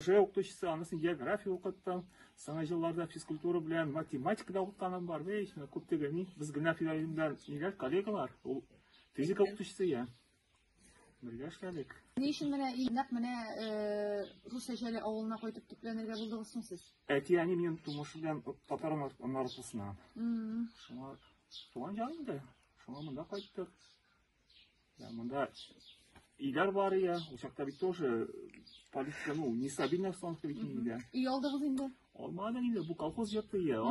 Уже укытучысы анысын география укыттым. Соңгы елларда физкультура белән математика да укытканым бар. Бей, күп дигәни, без генә филарында ниләр коллегалар, ул физика укытучысы я. Бергә эшләдек. Ни өчен менә и нәкъ менә э, рус шәҗәле авылына кайтып төпләнергә булдыгыз соң сез? Әти әни минем тумыш белән татар наркусына. Шуңа туган җан инде. Шуңа монда кайттык. Да, монда Игар бар я, учакта бит тоже полиция, ну, нестабильная обстановка бит инде. И алдыгыз инде. Алмады инде, бу колхоз йорты я.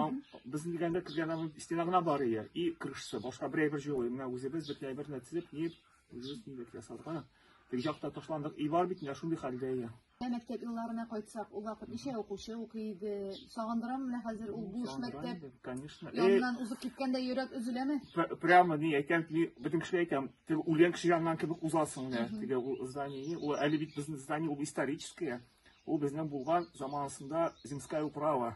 Без дигәндә кергән стена гына бар я. И крышасы, башка берәй бер җылы. Менә үзебез бер тәй берне тизеп, нип үзебез нидә ясадык. Тик җакта ташландык. И бар бит инде шундый хәлдә я. Ә мәктәп елларына кайтсак, ул вакыт ничә укучы укый иде? Сагындырам менә хәзер ул буш мәктәп. Конечно. Яннан э, узып киткәндә йөрәк өзеләме? Прямо ни әйтәм, ни бөтен кешегә әйтәм, теге үлгән кеше яннан кебек узасың менә. Теге ул здание, ул әле бит безнең здание ул историческое. Ул безнең булган заманасында земская управа.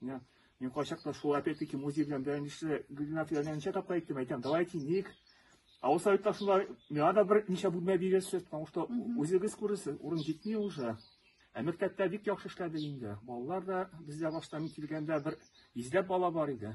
Менә мин кайчакта шул опять-таки музей белән бәйләнешле Гөлнар Фиданиягә ничә тапкыр әйттем, әйтәм, давай тиник. Авыл советлар шунда миңа да бер ничә бүлмә бирерсез, потому что үзегез күрерсез, урын җитми уже. Ә мәктәптә бик яхшы эшләде инде. Балалар да бездә башта мин килгәндә бер йөзләп бала бар иде.